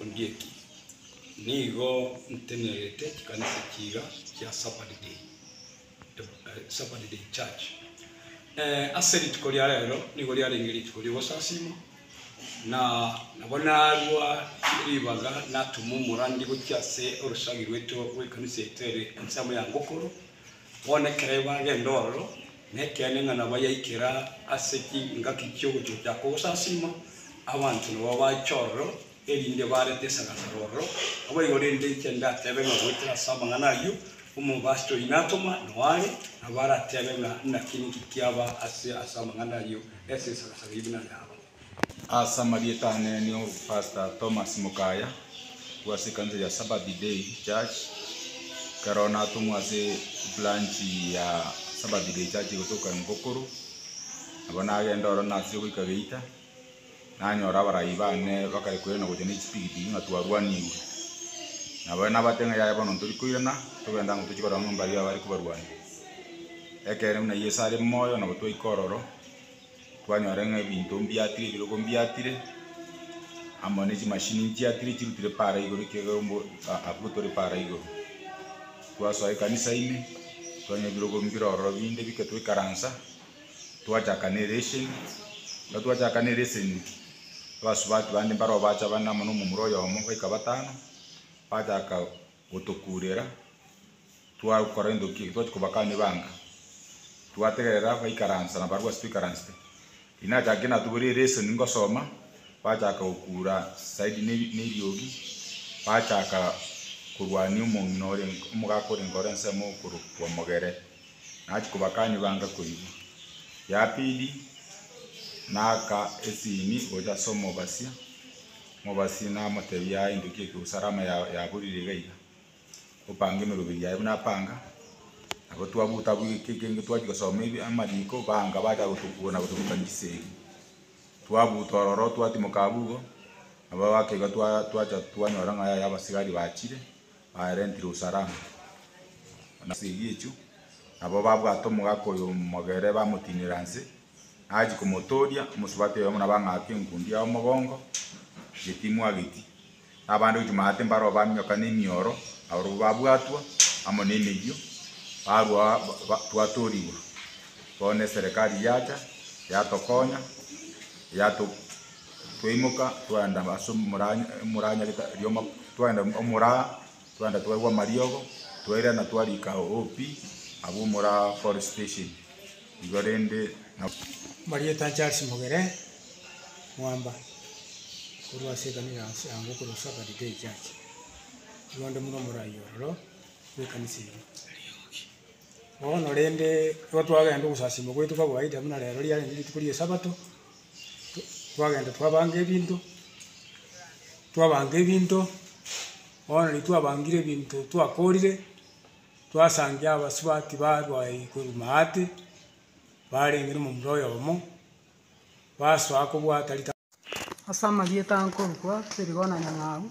Ondieki, Nigo ntenerete chikanisa chiiga chia Sabbathday, Sabbathday Church. Eh, ase rituko ria rero nigo riarenge rituko ri'ogosasima, na nabo narua ribaga natuma omorandi gochia ase orosagi rwaito rw'ekanisa etere ense amo ya Ngokoro, Bono ekero bagenda ororo, nekeene ng'a nabayaikera ase chingaki chi'ogochocha kogosasiima, abanto nabo bache ororo, erinde barete esagasaro ororo. Naboigo rende inche ndatebe ng'a goetera ase amang'ana ayio, omobasitori natoma nao are, nabo aratebe ng'a naki ninki kiaba ase ase amang'ana ayio, ase esagasaro ime nande aba. Ase amarieta ane nio Pastor Thomas Mukaya bw'ase ekanisa ya Sabbath Day Church, ekero natong'wa ase branch ya Sabbath Day Church gotoka Emvokoro, nabo nagenda ororo nasiria goika Geita, nanyora abarai bane bakare koirana gocha ne chipikipiki ng'a twarwanigwe. Nabo nabatebia ng'a yaya bono ntori koirana, togende ang'o tochie korora ng'a mbaiyo abare kobarwania. Ekeene buna Yeso are moyo nabo twaika ororo. Twanyora ng'a ebinto mbiatire, ebirogo mbiatire, amo ne chimashini nchiatire chirutire para igoro ekiagera ombo a- abwo tore para igoro. Twasoa ekanisa ime, twanyora ebirogo mbire ororo binde bike twaikaransa, twachaka na eresion. Ekero twachaka na eresion, abasubati bande mbare oo bacha bane amo na omomura oyomo baika batano, bachaka gotokurera. Twagokora endoki eki twachia kobakania ebanga, twategerera baikaransa na barabwo ase twaikaransete. Riria nachakire natoborie lesson ngosoma, bachaka gokuura side ne ne eriogi, bachaka korwania omong'ina ore omogaka orenge ore ensemo okorokwa Mogere. Nachia kobakania ebanga koigwa. Ya pili, naaka esimi gocha ase omobasia, omobasia namotebia aye endoki eke gose alama ya yaborire iga iga. Opange emeroberi yaye buna apanga. Nabo twabuta abwo egeka ekenge twachia gosoma ebi amariko, banga bacha gotokura na gotoruta chisegi. Twabuta ororo twatimoka abwo igo, nabo abake iga twa- twacha twanyora ng'a yaya abasigari bachire, barentire usalama. Chisegi echio, nabo babwate omogaka oyo mogere bamotinera nse. Achia komotooria, omosubati oyomo nabo ang'aake enkundi yao mogongo, geti mwageti, na abande gochia maate mbaro baminyoka nemioro, abarabwo babwatwa amo nemeyio, barwa ba twatoorigwa. Bono eserekari yacha, yatokonya, yato twaimoka twaenda ase omoranya omoranyarete rioma twaenda omoraa. Twaenda twaigwa amariogo, twairana twarika OP abwo omora Forest Station igo rende na. Marieta Charles Mogere Mwamba korwa ase ekanisa ya Nsango korwa Shepherd Day Church, nigo onde buna omoraai ororo bw'ekanisa eyio. Bono rende, ekero twagenda ogosasiima gwaito kwa kawaida buna rero riarenge rituko ri'esabato, twagenda twabanga ebinto, twabanga ebinto, bono riria twabangire ebinto twakorire, twasangia abasubati barwa eyi korwa maate, barenge na omomura oyomo, basoa kobwata rita. Ase amarieta nkorokwa Sirigo na Nyang'au.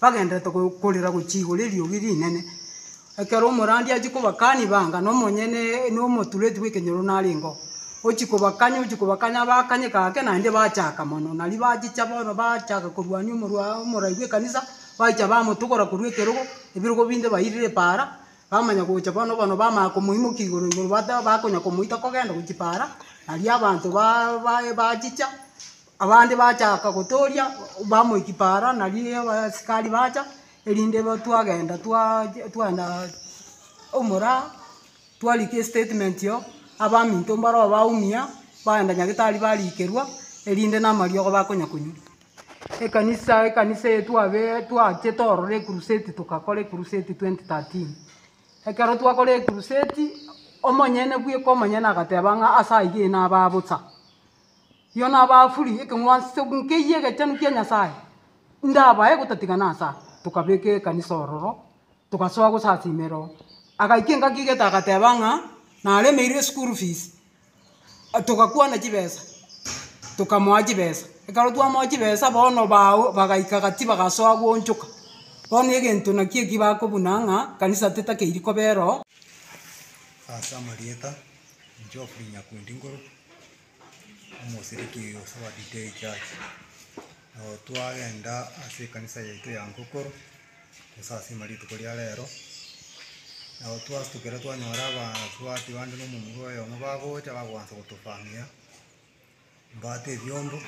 Bagenderete korera gochia igoro eriogi rinene. Ekero omorandia achia kobakani banga, nomonyene nomotureti bw'ekenyoro narengeo. Ochia kobakanya ochia kobakanya bakanye gake naende bachaka mono. Nario bachicha bono bachaka korwania omorwaa omorai bw'ekanisa, baicha bamotogora korwa ekerogo, ebirogo binde bairire epaara, bamanya gocha bono bono bamanya komoimokia igoro igoro bata bakonya komoita kogenda gochia paara, nario abanto baa baye bachicha, Abande bachaka gotooria bamoiki paara nario abasikari bacha erinde twagenda twagenda omoraa twarika estatement oo abaminto mbareo baumia bagenda nyagetari barikerwa erinde na amariogo bakonya konywa. Ekanisa ekanisa eye twabee twachete ororo ecrusade togakora ecrusade twenty thirteen ekero twakora ecrusade omonyene bweka omonyene agateba ng'a ase aywo nabe bosa. Yono abafuri ekeng'wanso nkeyie egechenu kia Nyasaye, ndabae gotatigana ase aa. Tokabeka ekanisa ororo, togasoa gosasiima ero. Agaika engaki igete agateba ng'a naremeirwe eschool fees, togakwana chibesa, tokamoa chibesa. Ekero twamoa chibesa bono bago bagaika gati bagasoa goonchoka. Bono egento naki eki bakobuna ng'a kanisa tetakeiri koba ero. omosiriki oyo ase owa DK church, nabo twagenda ase ekanisa yaito ya Ngokoro, gose ase ime rituko ria rero, nabo twasukire twanyora abasubati bande na omomura oyomo bagocha bagoansa gotofamia, mbwate ebiombo.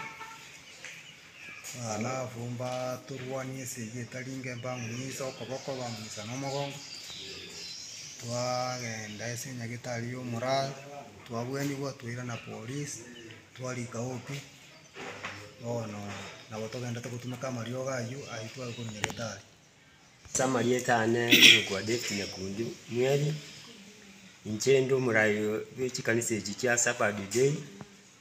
Alafu mbatorwanie ase eyio etari inke, mbang'unise okoboko, bang'unisa na omogongo, twagenda ase nyagetari ya omoraro, twabuanigwa, twairana polisi, twarika obi, bono nabo togenderete gotumeka amariogo ayio, ayio twayekorwa nyagetari. Ase amarieta ane ngokwa David Nyakundi Mweri, inche inde omorai bwe chikanisa echi chia Asabadi Day.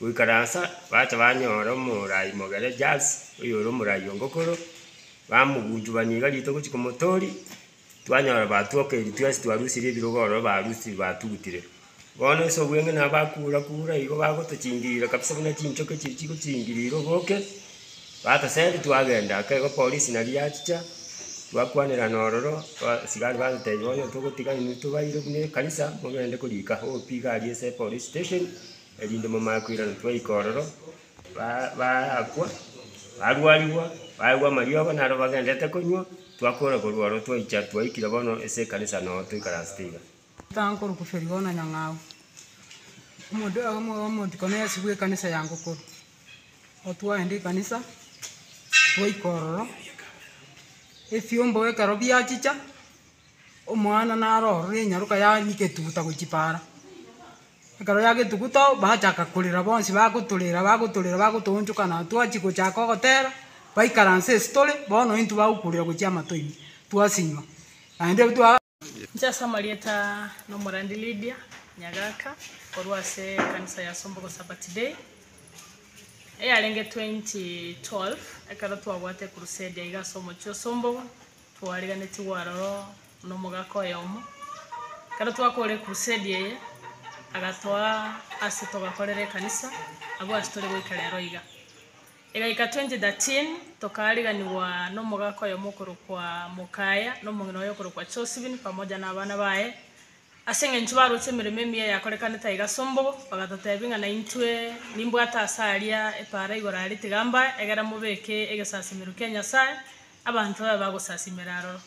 Goikaransa, bacha banyora omoraai mogere Jaz, oyore omoraai o Ngokoro, bamogunchubania iga rituko gochia komotori, twanyora batwokeiri twensi twarusire ebirogo ororo barusire batugutire. Bono ase obweng'ina nabo bakura kura igo bagotochingirira kabisa buna chinchoki chiri chigochingirire oboke, batoseri twagenda aka igo polisi naria yachicha, twakwanerana ororo, abasigari batotebia bono togotiga inwe tobaire buna ekanisa, mogende korika OP iga aria ase epolice station. erinde momanye koirana twaika ororo, ba baakwa, barwarigwa, baegwa amariogo naro bagendererete konywa, twakora korwa ororo twaicha twaikire bono ase ekanisa noo toikaransete iga. Totanga korokwa Ferigo na Nyang'au. Omonto oyoka omo omontiko na Yeso bw'ekanisa ya Ngokoro. Igo twaenda ekanisa, twaika ororo, efiomba ekero biachicha, omwana naro ororo enyaroka yaanyegetuguta gochia paara. Ekero giagetugu too bagachaka korera bonsi bagotorera bagotorera bagotoonchokana twachia gochaka ogotera, baikaransa ase tore bono intwe bagokurera gochia amato ime twasinywa naende twa. Inche ase amarieta na omorandi Lydia Nyagaka korwa ase ekanisa ya Sombogo Sabbath Day, eyarenge 2012 ekero twabwate ecrusade aiga ase omochie o Sombogo, Twarigenetigwe aroro nomogaka oyomo, ekero twakora ecrusade eye agatoa ase togakorera ekanisa abwo ase tore goika rero iga. Egaika 2013 tokaariganigwa nomogaka oyomo okorokwa Mokaya na omong'ina oye okorokwa Chosibin pamoja na abana baye, ase eng'encho baroche emeremo emiya eyakorekanete aiga ase ombogo, bagatotebia ng'a naintwe nimbwate ase aria epaara igoro aria tiga mbae, egera mobeke egesasimero kia Nyasae Abanto babe bagosasimera aroro.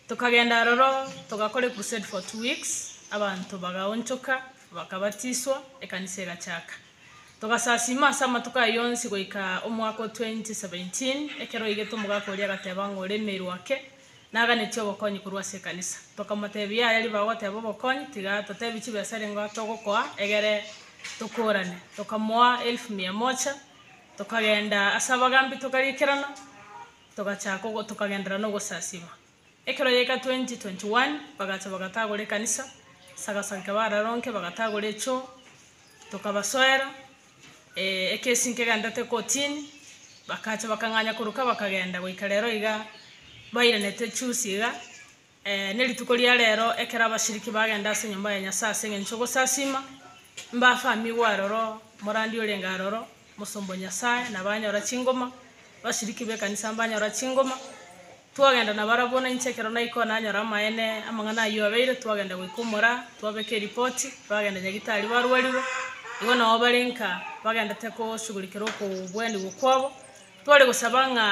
Tokagenda aroro togakora ecrusade for two weeks, abanto bagaonchoka, bakabatiswa, ekanisa egachaka. Togasasima ase amatuko ayio yonsi goika omwaka o 2017, ekero oigete omogaka oria agateba ng'a ore emeru ake, naganeti obokonyi korwa ase ekanisa. Tokamotebia yaya ribaga goteba obokonyi, tiga totebi chibesa rengo togokoa egere tokorane. Tokamoa elfu mia mocha. Tokagenda ase abagaambi tokariikerana, togachaka ogo, tokagenderera nogosasiima. Ekero gieka 2021 bagacha bagatagora ekanisa, ase agasari ka bararonke bagatagora echoo, tokabasoera, eeh ekesi nkegenderete kotini, bakacha bakang'anya koruka bakagenda goika rero iga bairenete chusi iga. Ee, nerituko ria reero, ekero abashiriki bagenda ase enyomba ya Nyasae ase engencho y'ogosasiima, mbafamigwe aroro, morandi orenge aroro, mosomba o Nyasae, na banyora chingoma, bashiriki b'ekanisa mbanyora chingoma, twagenda nabarabwo, na inche ekero naikwa nanyora amaene amang'ana ayio abeire, twagenda goika omoraa, twabeka eripoti, bagenda nyagitari barwarirwe, igo nao bare nka bagendete koshugulikerwa okobwanigwa kwabo. Tware gosaba ng'a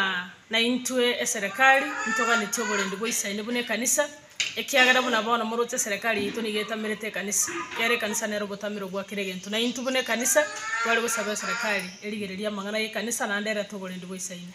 naintwe eserekari ntoganetie oborendi bwa Isaini buna ekanisa, ekiagera buna bono moroche eserekari yaito nigo etamerete ekanisa. Ekiagera ekanisa nere obotamero bwa kera egento, naintwe buna ekanisa tware gosaba eserekari erigererie amang'ana y'ekanisa naende erete oborendi bwa Isaini.